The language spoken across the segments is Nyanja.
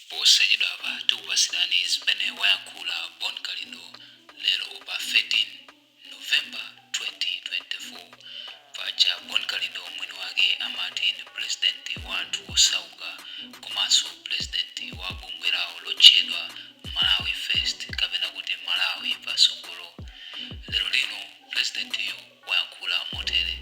Posachedwa apa tikupatsirani zimene wayankhula Bon Kalindo lero pa 13 November 2024. Paja Bon Kalindo mwini wake amati ndi pulezidenti wa anthu osauka komanso pulezidenti wa bungwe lawo lotchedwa Malawi First kapena kuti Malawi Patsogolo. Lero lino pulezidentiyu. wayankhula motere,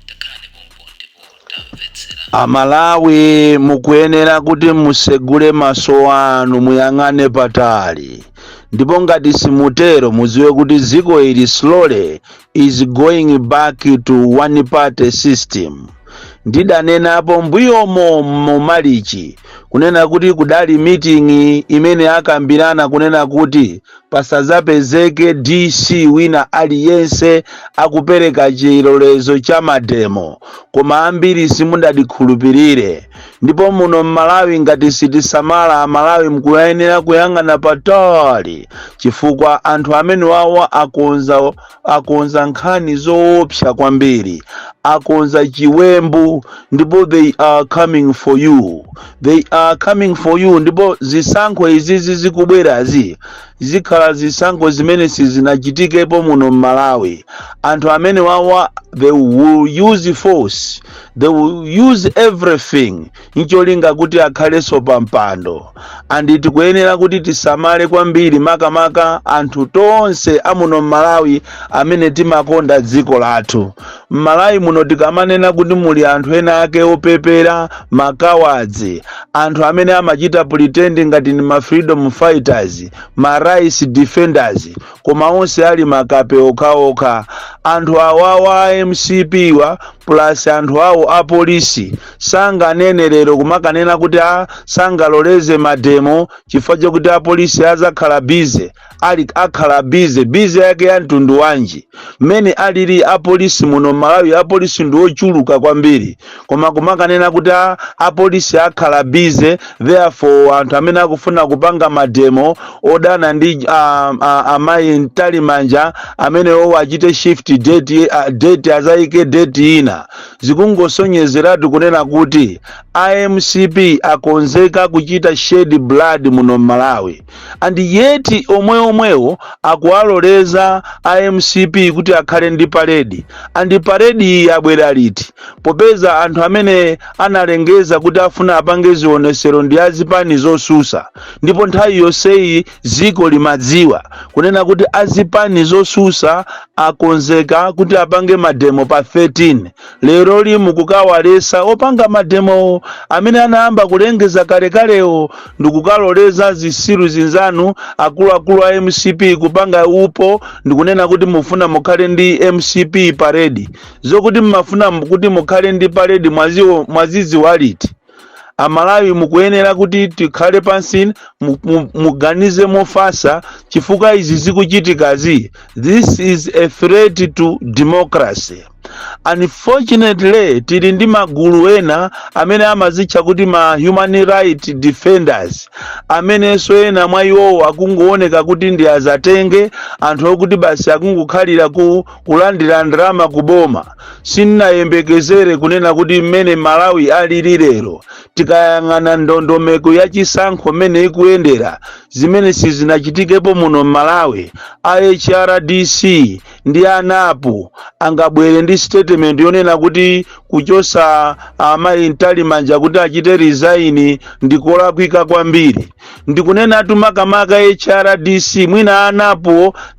Takhalani pompo ndipo tamvetsera. Amalawi mukuyenera kuti musegule maso anu muyang'ane patali ndipo ngati simutero mudziwe kuti dziko ili slowly is going back to one party system ndidanenapo mbuyomo mu March kunena kuti kudali meeting imene akambirana kunena kuti pasadzapezeke DC wina aliyense akupereka chilolezo cha mademo koma ambiri simudandikhulupirire ndipo muno m'malawi ngati sitisamala amalawi mkuyenera kuyang'ana patali chifukwa anthu amene wawa akonza akonza nkhani zoopsa kwambiri akonza chiwembu ndipo they are coming for you they are coming for you ndipo zisankho izizi zikubwerazi zikhala zisankho zimene sizinachitikepo muno m'malawi anthu amene wawa they will use force they will use everything ncholinga kuti akhalenso pa mpando and tikuyenera kuti tisamale kwambiri makamaka anthu tonse amuno mmalawi amene timakonda dziko lathu mmalawi muno tikamanena kuti muli anthu ena ake opepera ma cowards anthu amene amachita pretend ngati ndi ma freedom fighters ma rights defenders koma onse ali makape okhaokha anthu awawa a mcp wa plus anthu awo a polisi sanganene lero kumakanena kuti a sangaloleze mademo chifukwa chakuti apolisi azakhala busy ati akhala busy busy yake ya mtundu wanji mmene alili apolisi muno malawi apolisi ndi ochuluka kwambiri koma kumakanena kuti a apolisi akhala busy therefore anthu amene akufuna kupanga mademo odana ndi uh, uh, amayi Mtalimanja amenewo achite shift date, uh, date azayike date ina zikungosonyezeratu kunena kuti a mcp akonzeka kuchita shed blood muno m'malawi and yet omwe omwewo akuwaloleza a mcp kuti akhale ndi parade and parade iyi yabwera liti popeza anthu amene analengeza kuti afuna apange zionesero ndi azipani zosusa ndipo nthawi yonseyi Dziko limadziwa kunena kuti azipani zotsutsa akonzeka kuti apange mademo pa 13. Lero mukukawaletsa opanga mademowo amene anayamba kulengeza kalekalewo ndikukaloleza zisiru zinzanu akuluakulu a mcp kupanga upo ndikunena kuti mufuna mukhale ndi mcp parade. Zokuti mmafuna kuti mukhale ndi parade mwazidziwa liti? amalawi mukuyenera kuti tikhale pansi mu- mu- muganize mofasa chifukwa izi zikuchitikazi this is a threat to democracy unfortunately tili ndi magulu ena amene amazitcha kuti ma human rights defenders amenenso ena mwa iwowo akungooneka kuti ndi azatenge anthu okuti basi akungokhalira ku kulandira ndalama kuboma sinnayembekezere kunena kuti mmene malawi alili lero tikayang'ana ndondomeko ya chisankho mmene ikuyendera zimene sizinachitikepo muno mmalawi a hrdc ndi a NAP angabwere ndi statement yonena kuti kuchotsa amayi mtalimanja kuti achite resign ndi kolakwika kwambiri ndikunenatu makamaka hrdc mwina a NAP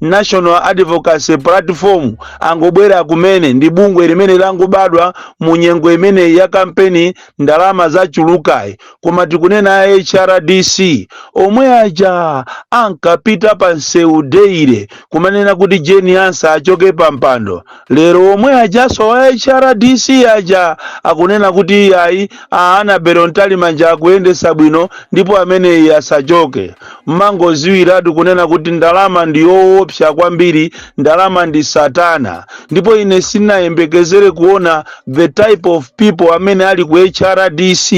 national advocacy platform angobwera kumene ndi bungwe limene langobadwa mu nyengo imeneyi ya kampeni ndalama zachulukayi koma tikunena hrdc omwe aja ankapita pa msewu daily kumanena kuti Jane Ansah achoke pa mpando Lero omwe ajanso wa HRDC aja akunena kuti iyayi a Annabel Mtalimanja akuyendetsa bwino ndipo ameneyi asachoke. Mmangodziwiratu kunena kuti ndalama ndi yoopsa kwambiri, ndalama ndi satana ndipo ine sindinayembekezere kuona the type of people amene ali ku HRDC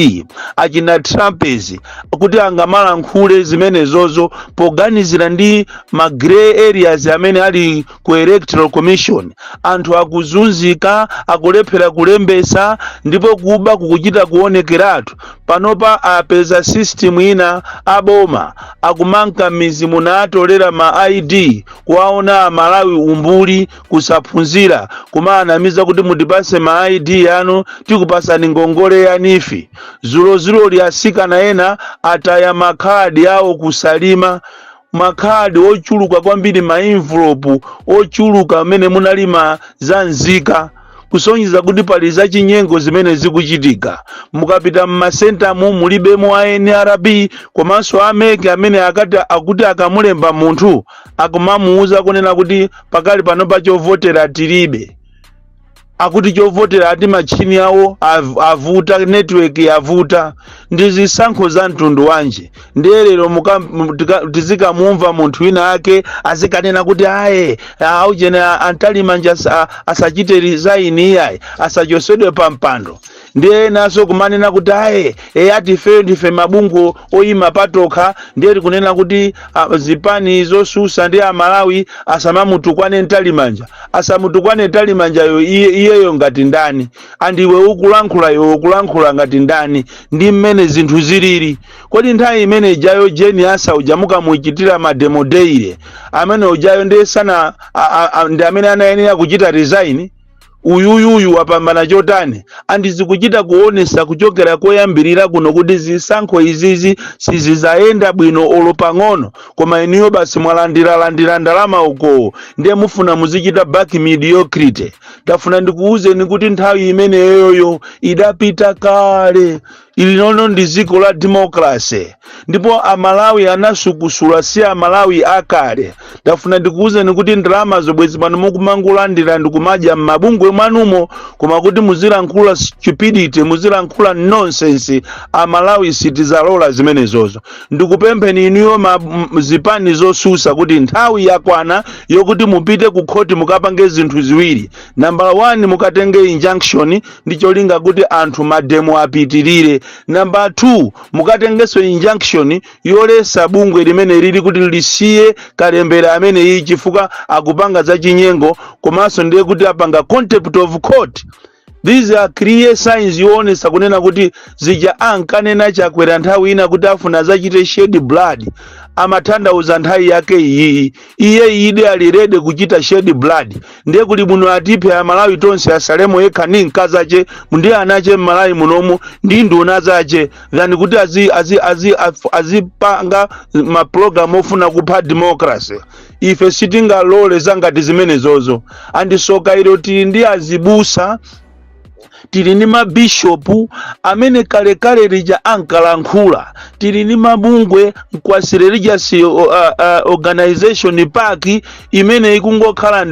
achina Trapence kuti angamalankhule zimenezozo poganizira ndi ma grey areas amene ali ku electoral commission anthu akuzunzika akulephera kulembetsa ndipo kuba kukuchita kuonekeratu panopa apeza system ina aboma akumanka m'midzi muno n'atolera ma id kuwaona amalawi umbuli kusaphunzira kumawanamiza kuti mutipatse ma id anu tikupatsani ngongole ya NEEF dzulodzuloli atsikana ena ataya makhadi awo ku Salima makhadi ochuluka kwambiri maenvulopu ochuluka amene munali ziphaso za nzika kusonyeza kuti pali zachinyengo zimene zikuchitika mukapita mmacentremu mulibemo a nrb komanso a MEC amene akati akuti akamulemba munthu akumamuuza kunena kuti pakali pano pachovotera tilibe akuti chovotera ati machini awo av- avuta network yavuta ndi zisankho za mtundu wanji ndiye lero tizikamumva munthu wina ake azikanena kuti aye aujene a Mtalimanja asachite resign iyayi asachosedwe pa mpando ndiye enanso kumanena kuti aye ati ifeyo ndife mabungwe oyima patokha ndiye tikunena kuti ah, zipani zosusa ndi amalawi asamamutukwane mtalimanja asamutukwane mtalimanja iyeyo ngati ndani and iwe ukulankhula iwe ukulankhula ngati ndani ndi mmene zinthu zilili kodi nthawi imene ijayo Jane Ansah uja munkamuchitira mademo daily amene ujayo ndiye sana ndi amene anayenera kuchita resign uyuyuyu wapambana chotani and zikuchita kuonesa kuchokera koyambirira kuno kuti zisankho izizi sizizayenda bwino olo pang'ono koma inuyo basi mwalandiralandira ndalama ukowo ndiye mufuna muzichita back mediocrity ndafuna ndikuwuzeni kuti nthawi imeneyoyo idapita kale ilinono ndi dziko la democracy ndipo amalawi anasukusula si amalawi akale ndafuna ndikuwuzeni kuti ndalama zobazi pano mukumangolandira ndikumadya m'mabungwe mwanumo koma kuti muzilankhula stupidity muzilankhula nonsense amalawi sitizalola zimenezozo ndikupempheni inuyo ma- m- zipani zosusa kuti nthawi yakwana yokuti mupite ku khoti mukapange zinthu ziwiri nambala 1 mukatenge injunction ndi cholinga kuti anthu mademo apitirire nambala 2 mukatengenso injunction yolesa bungwe limene lili kuti lisiye kalembera amene iyi chifukwa akupanga za chinyengo komanso ndiye kuti apanga contempt of court these are clear signs yoonesa kunena kuti zija ankanena chakwera nthawi ina kuti afuna azachite shed blood amathandauza nthawi yake iyiyi Iyedi ali ready kuchita shed blood ndiye kuli bwino atiphe amalawi tonse asalemo yekha ndi mkazache ndi anache mmalawi munomu ndi nduna zache than kuti azipanga ma program ofuna kupha democracy ife sitingalole zangati zimenezozo and tsoka ilo tili ndi azibusa tili ndi mabishopu amene kalekale lija ankalankhula tili ndi mabungwe ma quasi religious organization PAC imene ikungokhala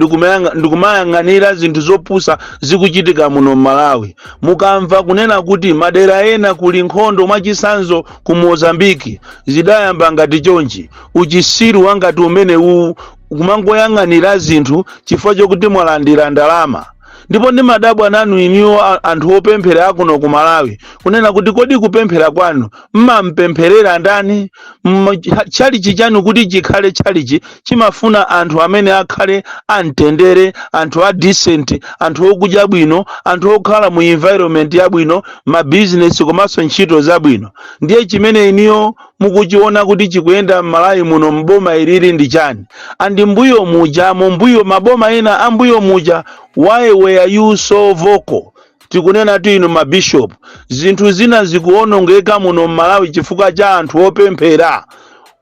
ndikumayang'anira zinthu zopusa zikuchitika muno m'malawi mukamva kunena kuti madera ena kuli nkhondo mwachisanzo ku mozambiki zidayamba ngati chonchi uchisiru wangati umene uwu kumangoyang'anira zinthu chifukwa chokuti mwalandira ndalama ndipo ndimadabwa nanu inuyo a- anthu opemphera akuno ku malawi kunena kuti kodi kupemphera kwanu mmampempherera ndani Mma- cha- tchalichi chanu kuti chikhale tchalichi chimafuna anthu amene akhale amtendere anthu a decent anthu okudya bwino anthu okhala mu environment yabwino mabizinesi komanso ntchito zabwino ndiye chimene inuyo mukuchiona kuti chikuyenda m'malawi muno m'boma ilili ndi chani and mbuyo muja mumbuyo maboma ena a mbuyo muja why were you so vocal tikunenatu inu mabishop zinthu zina zikuonongeka muno m'malawi chifukwa cha anthu opemphera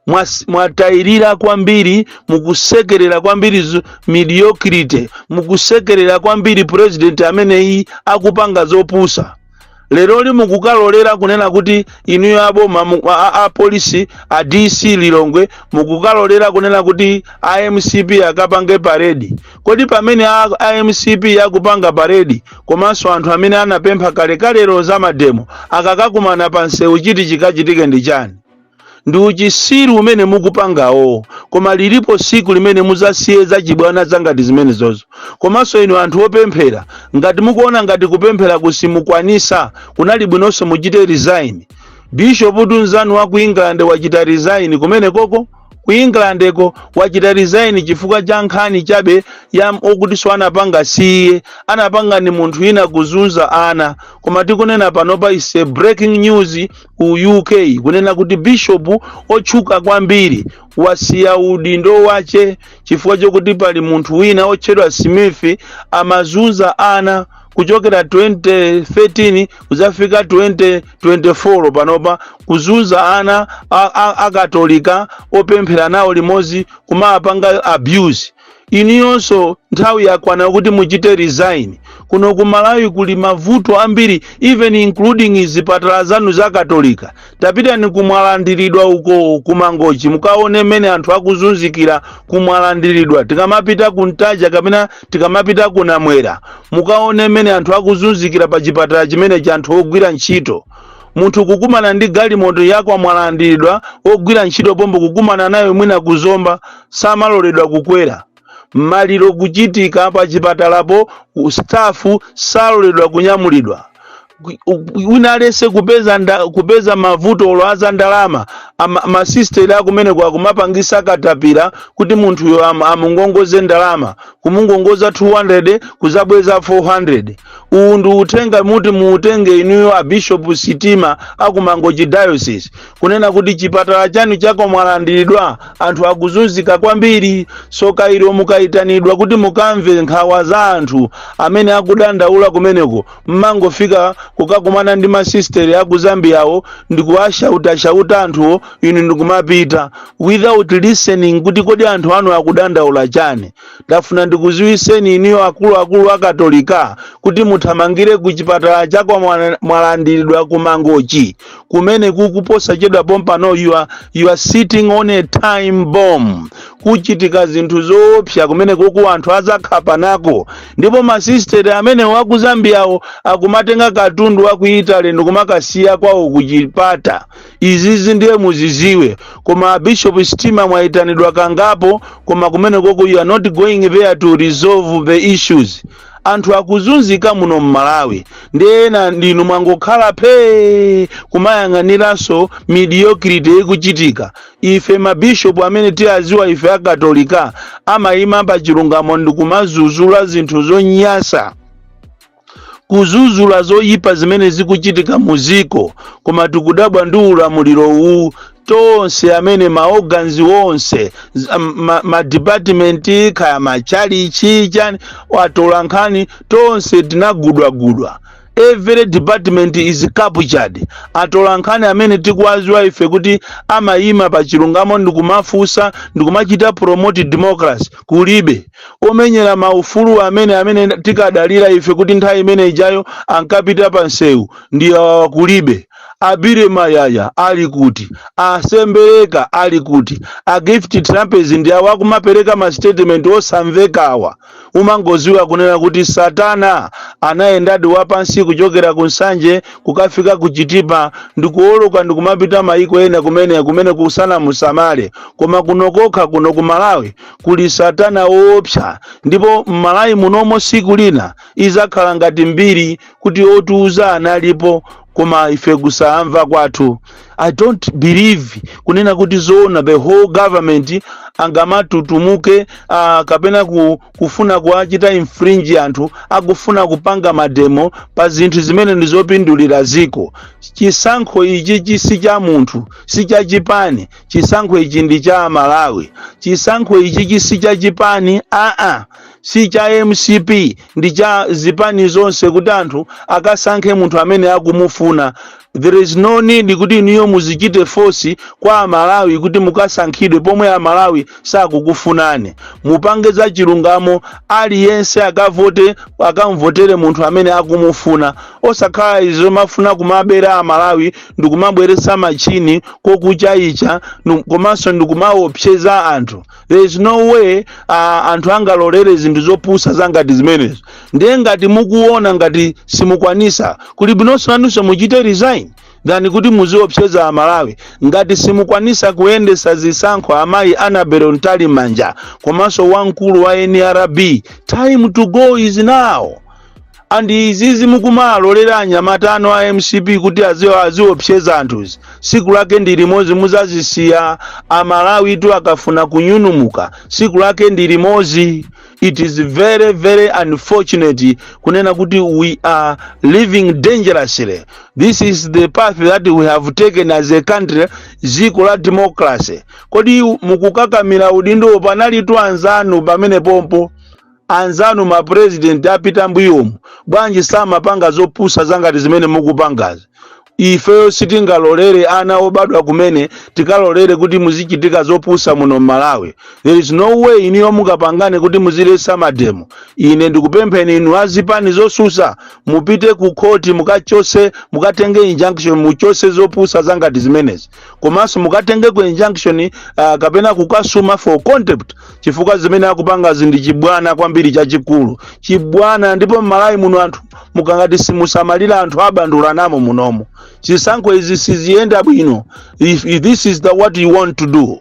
Mwas- mwatayirira kwambiri mukusekerera kwambiri zu- mediocrity mukusekerera kwambiri president ameneyi akupanga zopusa leroli mukukalolera kunena kuti inuyo aboma mu- a- a- apolisi a dc lilongwe mukukalolera kunena kuti a mcp akapange paredi kodi pamene a, a mcp akupanga paredi komanso anthu amene anapempha kalekalero za mademo akakakumana pa msewu chiti chikachitike ndi chani ndi uchisiru umene mukupangawo koma lilipo siku limene muzasiye zachibwana zangati zimene zozo komanso inu anthu opemphera ngati mukuona ngati kupemphera kusimukwanisa kunali bwinonso muchite resign bishop mnzanu wa ku england wachita resign kumene koko ku england ko wachita resign chifukwa cha nkhani chabe yokutinso anapanga si iye anapanga ndi munthu wina kuzunza ana koma tikunena panopa is a breaking news ku UK kunena kuti bishopu otchuka kwambiri wasiya udindo wache chifukwa chokuti pali munthu wina otchedwa Smith amazunza ana kuchokera 2013 kudzafika 2024 panopa kuzunza ana a- a- akatolika opemphera nawo limodzi kumapanga abuse Inuyonso nthawi yakwana kuti muchite resign. Kuno ku Malawi kuli mavuto ambiri even including zipatala zanu za Katolika. Tapitani ku Mwalandiridwa uko ku Mangochi mukaone mmene anthu akuzunzikira ku Mwalandiridwa. Tikamapita ku Ntaja kapena tikamapita ku Namwera mukaone mmene anthu akuzunzikira pa chipatala chimenechi cha anthu ogwira ntchito. munthu kukumana ndi galimoto yakwa mwalandiridwa ogwira ntchito pompo kukumana nayo mwina kuzomba samaloledwa kukwera maliro kuchitika pa chipatalapo stafu saloledwa kunyamulidwa wina aliyense kupeza nda, kupeza mavuto olo aza ndalama ama, masisteri akumeneko akumapangisa katapira kuti munthuyo am, amungongoze ndalama kumungongoza 200 kuzabweza 400 uwu ndi uthenga woti muutenge inuyo a bishop sitima a ku Mangochi diocese kunena kuti chipatala chanu cha kwa Mwalandiridwa anthu akuzunzika kwambiri soka ilo mukayitanidwa kuti mukamve nkhawa za anthu amene akudandaula kumeneko mmangofika kukakumana ndi masisteri a ku Zambiawo ndikuwashautashauta anthuwo inu ndikumapita without listening kuti kodi anthu anu akudandaula chani Ndafuna ndikuziwiseni inuyo akulu akulu a katolika kuti muthamangire ku chipatala cha kwa Mwalandiridwa ku mangochi kumenekuku posachedwa pompano you are sitting on a time bomb kuchitika zinthu zoopsa kumenekuku anthu azakhapanako ndipo masisteri amene a ku Zambiawo akumatenga katundu wa ku italy ndikumakasiya kwawo kuchipata izizi ndiye muziziwe koma a bishop Sitima mwayitanidwa kangapo koma kumeneko you are not going there to resolve the issues anthu akuzunzika muno mmalawi ndiye inu ndinu mwangokhala phee kumayang'aniranso mediocrity ikuchitika ife mabishopu amene timawaziwa ife akatolika amayima pa chilungamo ndikumazuzula zinthu zonyasa kuzuzula zoyipa zimene zikuchitika muziko koma tikudabwa ndi ulamuliro uwu tonse amene ma organs onse ma department kaya matchalitchi chani atolankhani tonse tinagulidwagulidwa every department is captured atolankhani amene tikuwaziwa ife kuti amayima pa chilungamo ndikumafunsa ndikumachita promote democracy kulibe omenyera maufulu amene amene tinkadalira ife kuti nthawi imene ijayo ankapita pa msewu ndi awa kulibe a Billy Mayaya ali kuti a Sembereka ali kuti a Gift Trapence ndi awa akumapereka ma statement osamvekawa umangoziwa kunena kuti satana anayendadi wapansi kuchokera ku nsanje kukafika ku chitipa ndikuoloka ndikumapita mayiko ena kumene kumene kusana musamale koma kuno kokha kuno ku malawi kuli satana woopsa ndipo m'malawi munomo siku lina izakhala ngati mbiri kuti otiuza analipo koma ife kusamva kwathu i don't believe kunena kuti zoona the whole government angamatutumuke uh, kapena kufuna kuwachita infringe anthu akufuna kupanga mademo pa zinthu zimene ndizopindulira ziko chisankho ichichi si cha munthu si cha chipani chisankho ichi ndi cha amalawi chisankho ichi ichi si cha chipani aa si cha mcp ndi cha zipani zonse kuti anthu akasankhe munthu amene akumufuna there is no need kuti inuyo muzichite force kwa amalawi kuti mukasankhidwe pomwe amalawi sakukufunani mupange za chilungamo aliyense akavote akamvotere munthu amene akumufuna osakhala izo mumafuna kumabera amalawi ndikumabweresa machini kokuchaicha komanso ndikumaopseza anthu there is no way uh, anthu angalolere zinthu zopusa zangati zimenezo ndiye ngati mukuona ngati simukwanisa kuli bwinonso nanunso muchite resign than kuti muziopseza amalawi ngati simukwanisa kuyendesa zisankho amayi annabel mtalimanja komanso wamkulu wa nrb time to go is now and izizi mukumalolera anyamata anu a mcp kuti aziwa aziopseza anthuzi siku lake ndi limodzi muzazisiya amalawitu akafuna kunyunumuka siku lake ndi limodzi it is very very unfortunate kunena kuti we are living dangerously this is the path that we have taken as a country ziko la democracy kodi mukukakamira udindo panalitu anzanu pamene pompo Anzanu ma president apita mbuyomu bwanji samapanga zopusa zangati zimene mukupangazi? Ifeyo sitingalolere ana obadwa kumene tikalolere kuti muzichitika zopusa muno Mmalawi. There is no way inuyo mungapangane kuti muzilesa mademo. Ine ndikupempheni inu a zipani zosusa mupite ku court mukachose mukatenge injunction muchose zopusa zangati zimenezi. komanso mukatenge ku injunction uh, kapena kukasuma for contempt chifukwa zimene akupangazi ndi chibwana kwambiri chachikulu chibwana ndipo mmalawi muno anthu mukangati simusamalira anthu abandulana momunomo zisankho izi siziyenda bwino if, if this is the what you want to do